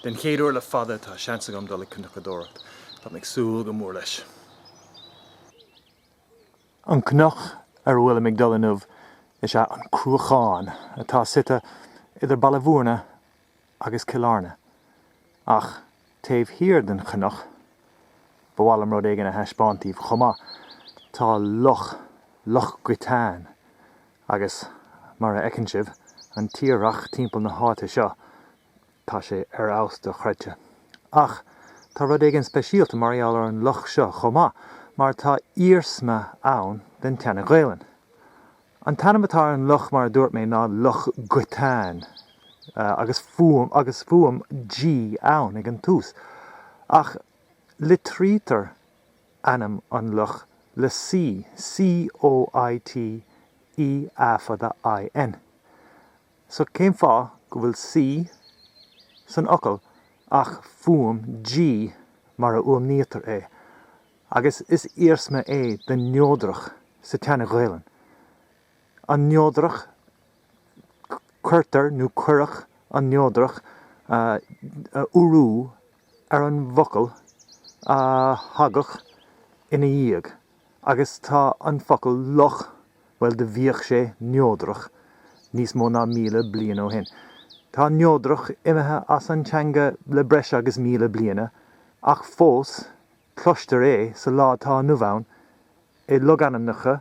Den chéad uair le fada tá seans agam dul ag cnocadóireacht. Táim ag súil go mór leis. An cnoc ar a bhfuilim ag dul inniu is ea An Cruachán atá suite idir Baile Mhúirne agus Cill Airne. Ach taobh thiar den chnoc, ba mhaith liom rud éigin a thaispeáint daoibh chomh maith, tá loch, Loch Coiteáin, Agus, mar a fheiceann sibh, an tírdhreach timpeall na háite seo, tá sé ar fheabhas dochreidte. Ach, tá rud éigin speisialta mar gheall ar an loch seo chomh maith, mar tá iarsma ann den tSeana-Ghaelainn. An t-ainm atá ar an loch mar a dúirt mé ná Loch Coiteáin, agus fuaim, agus fuaim G ann ag an tús, ach litrítear ainm an loch le C, COIT, E A fada IN. So cén fáth go bhfuil C san fhocal ach fuaim G mar a fhuaimnítear é, agus is iarsma é den neodrach sa tSeana-Ghaelainn. An neodrach, cuirtear nó cuireadh an neodrach urú ar an bhfocal a thagadh ina dhiaidh agus tá an focal loch, bhuel, do bhíodh sé neodrach níos mó ná míle bliain ó shin. Tá neodrach imithe as an teanga le breis agus míle bliana ach fós cloistear é sa lá atá inniu ann i logainmneacha,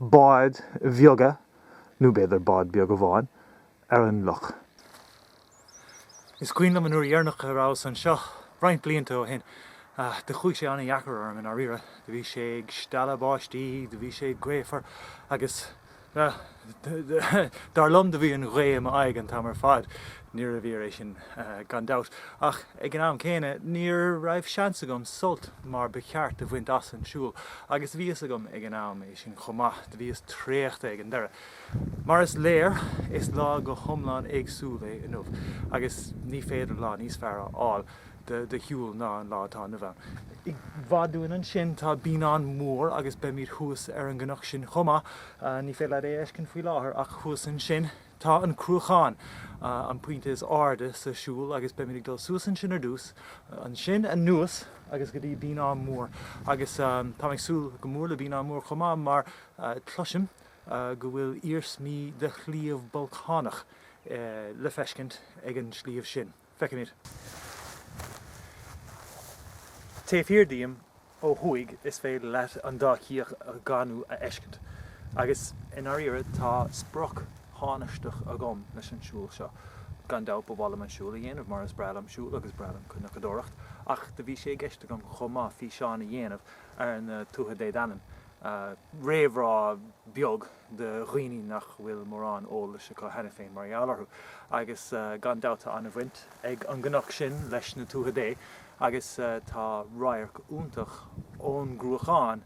báid bheaga, nó b'fhéidir bád beag amháin, ar an loch. Is cuimhin liom an uair dheireanach a rabhas anseo, roinnt blianta ó shin. Do chuaigh sé ana-dheacair orm, i ndáiríre. Do bhí sé ag stealladh báistí, do bhí sé gaofar agus dar liom do bhí an ghaoth i m'aghaidh an t-am ar fad. Níorbh fhíor é sin, gan dabht, ach ag an am céanna, ní raibh seans agam sult mar ba cheart a bhaint as an siúl, agus bhí a fhios agam ag an am é sin chomh maith, do bhíos traochta ag an deireadh. Mar is léir, is lá go hiomlán éagsúil é inniu, agus ní féidir lá níos fearr a fháil do shiúl ná an lá atá inniu ann. I bhfad uainn ansin tá Beannán Mór, agus beimid thuas ar an gcnoc sin chomh maith, ní féidir leat é a fheiscint faoi láthair, ach thuas ansin, Tá an Cruachán, an pointe is airde, sa siúl agus beimid ag dul suas ansin ar dtús, ansin anuas agus go dtí Beannán Mór. Agus táim ag súil go mór le Beannán Mór chomh maith mar cloisim go bhfuil iarsmaí de shliabh bolcánach le feiscint ag an sliabh sin. Feicimid, taobh thiar díom ó thuaidh, is féidir leat an Dá Chíoch Dhanú a fheiscint, agus i ndáiríre tá sprioc thánaisteach agam leis an siúl seo. Gan dabht ba mhaith liom an siúl a dhéanamh mar is breá liom siúl agus is breá liom cnocadóireacht, ach do bhí sé i gceist agam chomh maith físeán a dhéanamh ar na Tuatha Dé Danann, réamhrá beag. do dhaoine nach bhfuil mórán eolais acu cheana féin mar gheall orthu. Agus gan dabht tá an-bhaint ag an gcnoc sin leis na Tuatha Dé agus tá radharc iontach ón gCruachán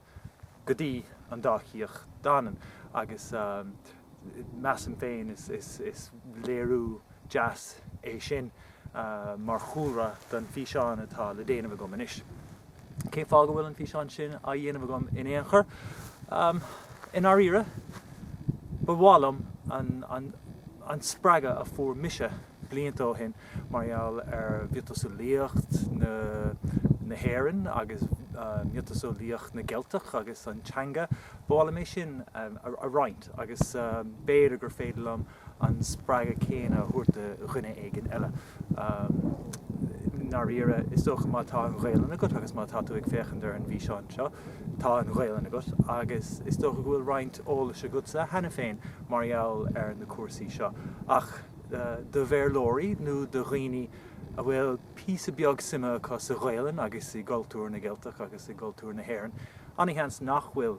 go dtí an Dá Chíoch Danann agus measaim féin is léiriú deas é sin mar chúlra don físeán atá le déanamh agam anois. Cén fáth go bhfuil an físeán sin á dhéanamh agam in aon chor? I ndáiríre, ba mhaith liom an spreagadh a fuair mise blianta ó shin mar gheall ar mhiotaseolaíocht na hÉireann agus miotaseolaíocht na gCeilteach agus an teanga, ba mhaith liom é sin a roinnt agus b'fhéidir gur féidir liom an spreagadh céanna a thabhairt do dhuine éigin eile. I ndáiríre, is dócha má tá an Ghaelainn agat agus má tá tú ag féachaint ar an bhfíseán seo, tá an Ghaelainn agat agus is dócha go bhfuil roinnt eolais agatsa cheana féin mar gheall ar na cúrsaí seo. Ach do Bhéarlóirí nó do dhaoine a bhfuil píosa beag suime acu sa Ghaelainn agus i gcultúr na gCeilteach agus i gcultúr na hÉireann, an-sheans nach bhfuil.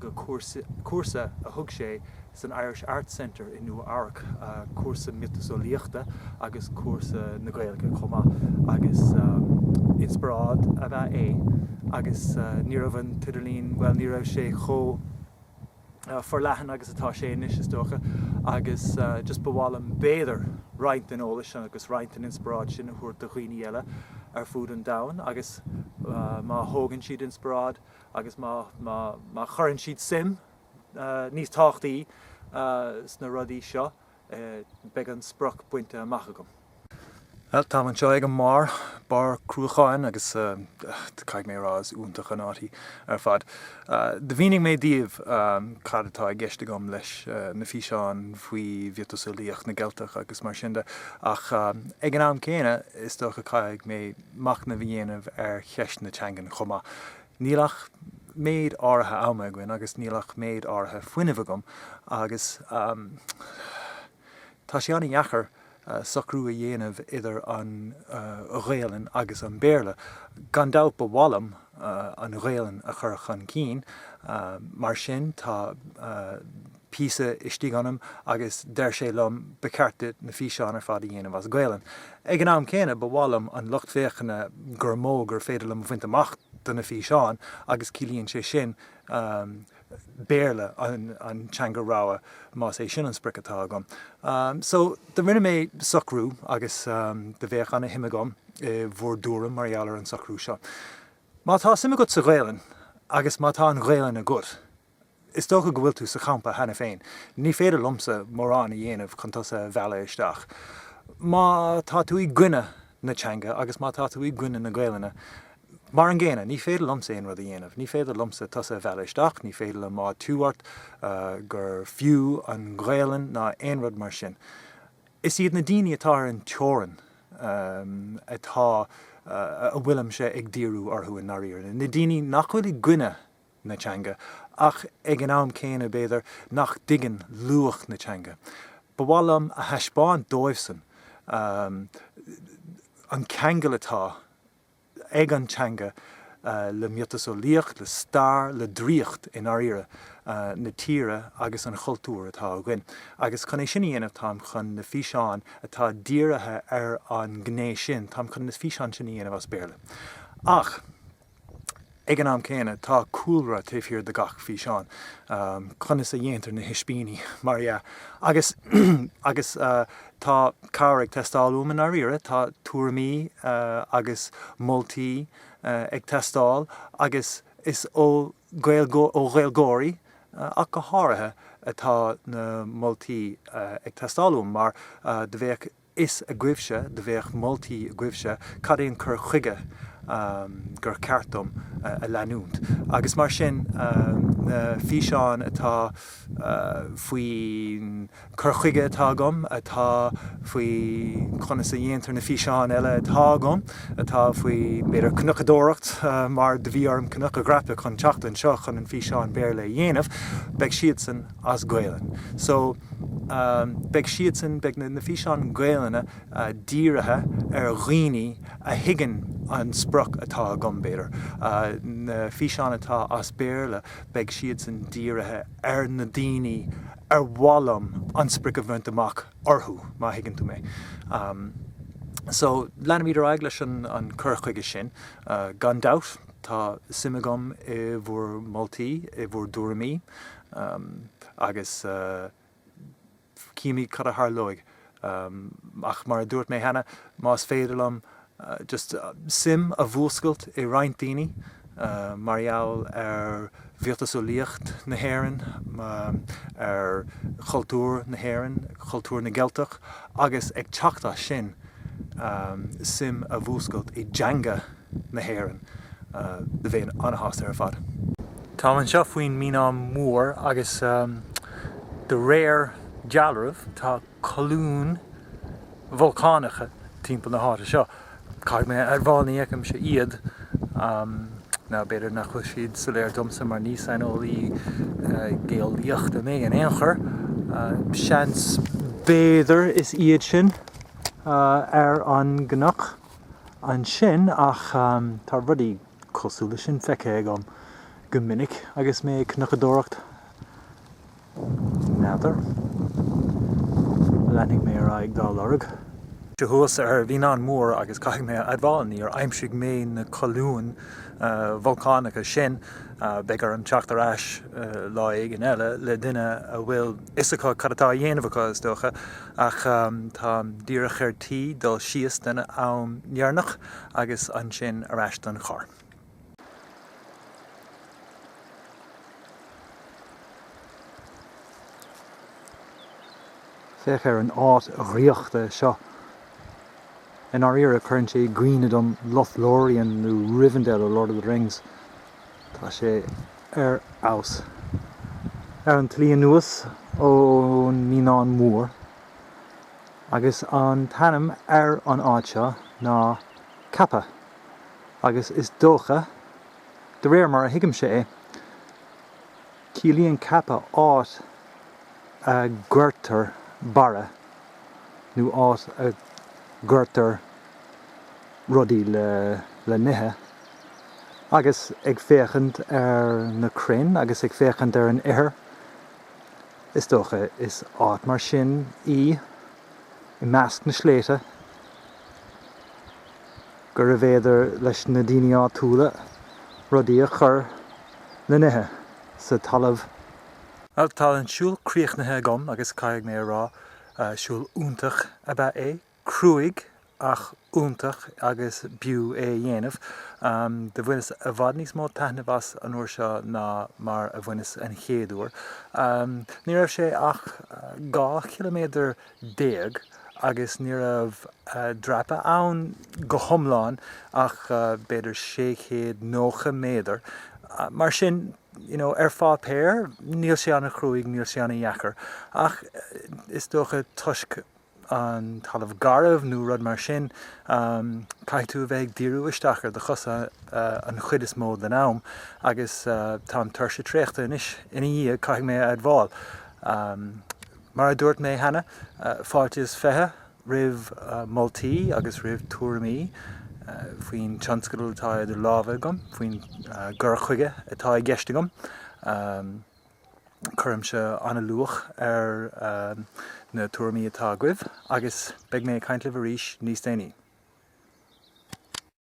go cúrsa a thug sé san Irish Arts Center i Nua-Eabhrac, cúrsa miotaseolaíochta agus cúrsa na Gaeilge chomh maith, agus inspioráid ab ea é agus ní raibh an t-idirlíon, bhuel, ní raibh sé chomh forleathan agus atá sé anois, is dócha, agus just ba mhaith liom, b'fhéidir, roinnt den eolas agus roinnt den inspioráid sin a thabhairt do dhaoine eile ar fud an domhain agus má thógann siad inspioráid, agus má chuireann siad suim níos tábhachtaí sna rudaí seo beidh an sprioc bainte amach agam. Bhuel, táim anseo ag an mbarr, barr Cruacháin agus caithfidh mé a rá is iontach an áit í ar fad. Do mhínigh mé daoibh cad atá i gceist agam leis na físeáin faoi mhiotaseolaíocht na gCeilteach agus mar sin de ach ag an am céanna is dócha caithfidh mé machnamh a dhéanamh ar cheist na teangan chomh maith. Níl ach méid áirithe ama againn agus níl ach méid áirithe fuinnimh agam agus tá sé an-dheachair socrú a dhéanamh idir an Ghaelainn agus an Béarla. Gan dabht ba mhaith liom an Ghaelainn a chur chun cinn mar sin tá píosa istigh ionam agus deir sé liom 'ba cheart duit na físeáin ar fad a dhéanamh as Gaelainn'. Ag an am céanna, ba mhaith liom an lucht féachana gur mó gur féidir liom a bhaint amach do na físeáin agus ciallaíonn sé sin Béarla, an teanga rogha, más é sin an sprioc atá agam. So, do rinne mé socrú agus do bheadh ana shuim agam i bhur dtuairim mar gheall ar an socrú seo. Má tá suim agat sa Ghaelainn agus má tá an Ghaelainn agat, Is dócha go bhfuil tú sa champa cheana féin. Ní féidir liomsa mórán a dhéanamh chun tusa a mhealladh isteach. Má tá tú i gcoinne na teanga agus má tá tú i gcoinne na Gaelainne, mar an gcéanna, ní féidir liomsa aon rud a dhéanamh. Ní féidir liomsa tusa a mhealladh isteach, ní féidir liom áitiú ort gur fiú an Ghaelainn ná aon rud mar sin. Is iad na daoine atá ar an teorainn atá a bhfuilimse ag díriú orthu i ndáiríre, na daoine nach bhfuil i gcoinne na teanga, ach ag an am céanna, b'fhéidir, nach dtuigeann luach na teanga. Ba mhaith liom a thaispeáint dóibhsan an ceangal atá ag an teanga le miotaseolaíocht, le stair, le draíocht, i ndáiríre, na tíre agus an chultúir atá againn. Agus chun é sin a dhéanamh, táim chun na físeáin atá dírithe ar an ngné sin, táim chun na físeáin sin a dhéanamh as Béarla. Ach. Ag an am céanna, tá cúlra taobh thiar de gach físeán, conas a dhéantar na hispíní, mar dhea! agus agus tá cabhair ag teastáil uaim i ndáiríre, tá tuairimí agus moltaí ag teastáil agus is ó Ghaeilgeoirí ach go háirithe atá na moltaí ag teastáil uaim mar do bheadh a fhios agaibhse, do bheadh moltaí agaibhse cad é an cur chuige gur ceart dom a leanúint agus mar sin na físeáin atá faoin cur chuige atá agam, atá faoi conas a dhéantar na físeáin eile atá agam, atá faoi b'fhéidir cnocadóireacht mar do bhí orm cnoc a dhreapadh chun teacht anseo chun an físeán Béarla a dhéanamh, beidh siadsan. as Gaelainn. So, beidh siadsan, beidh na físeáin Gaelainne dírithe ar dhaoine a thuigeann an sprioc atá agam, b'fhéidir. Na físeáin atá as Béarla, beidh siadsan dírithe ar na daoine ar mhaith liom an sprioc a bhaint amach orthu, má thuigeann tú mé. So, leanfaimid ar aghaidh leis an chur chuige sin, gan dabht. Tá suim agam i bhur moltaí, i bhur dtuairimí. Um, agus, uh, cífimid cad a tharlóidh. Um, ach mar a dúirt mé cheana, más féidir liom, uh, just, uh, suim a mhúscailt i roinnt daoine, uh, mar gheall ar mhiotaseolaíocht na hÉireann, um, ar chultúr na hÉireann, cultúr na gCeilteach, agus ag teacht as sin, um, suim a mhúscailt i dteanga, na hÉireann. Bheinn ana-shásta ar fad. Táim anseo faoin mBeannán Mór agus de réir dealraimh tá colúin bholcánacha timpeall na háite seo. Caithfidh mé a admháil ní fheicimse iad, nó b'fhéidir nach bhfuil siad soiléir domsa mar ní saineolaí geolaíochta mé in aon chor. Seans b'fhéidir is iad sin ar an gcnoc. ansin ach tá rudaí cosúil leis sin feicthe agam go minic agus mé ag cnocadóireacht. N'fheadar. Leanfaidh mé ar aghaidh dá lorg. So thuas ar Bheannán Mór agus caithfidh mé a admháil, níor aimsigh mé na colúin bholcánacha sin. Beidh orm teacht ar ais lá éigin eile le duine a bhfuil. fhios acu cad atá á dhéanamh acu, is dócha, ach táim díreach ar tí dul síos don am deireanach agus ansin ar ais don charr. Féach ar an áit dhraíochta seo. I ndáiríre, cuireann sé i gcuimhne dom Lothlórien nó Rivendell ó Lord of the Rings. Tá sé ar fheabhas. Ar an tslí anuas ón mBeannán Mór. Agus an t-ainm ar an áit seo ná Cappagh. Agus is dócha, de réir mar a thuigimse é, ciallaíonn Cappagh áit a gcuirtear barra nó áit a gcuirtear rudaí le n-ithe. agus ag féachaint ar na crainn agus ag féachaint ar an ithir, is dócha, is áit mar sin í, i measc na sléibhte, gurbh fhéidir leis na daoine áitiúla rudaí a chur le n-ithe sa talamh. Bhuel, tá an siúl críochnaithe agam agus caithfidh mé a rá, siúl iontach ab ea é. cruaidh ach iontach agus b'fhiú é a dhéanamh. Do bhaineas i bhfad níos mó taitneamh as an uair seo ná mar a bhaineas an chéad uair. Ní raibh sé ach dhá chiliméadar déag agus ní raibh dreapadh ann go hiomlán ach b'fhéidir sé chéad nócha méadar. Mar sin, you know, ar pháipéar níl sé ana chruaidh, níl sé ana dheacair ach is dócha toisc an talamh garbh nó rud mar sin, caithfidh tú a bheith ag díriú isteach ar do chosa an chuid is mó den am agus tá an tuirse tréachta anois ina dhiaidh, caithfidh mé a admháil. Mar a dúirt mé cheana, fáilte is fiche roimh moltaí agus roimh tuairimí faoin tionscadal atá idir lámha agam, faoin gcur chuige atá i gceist agam. Cuirimse an-luach ar na tuairimí atá agaibh agus beidh mé ag caint libh arís níos déanaí.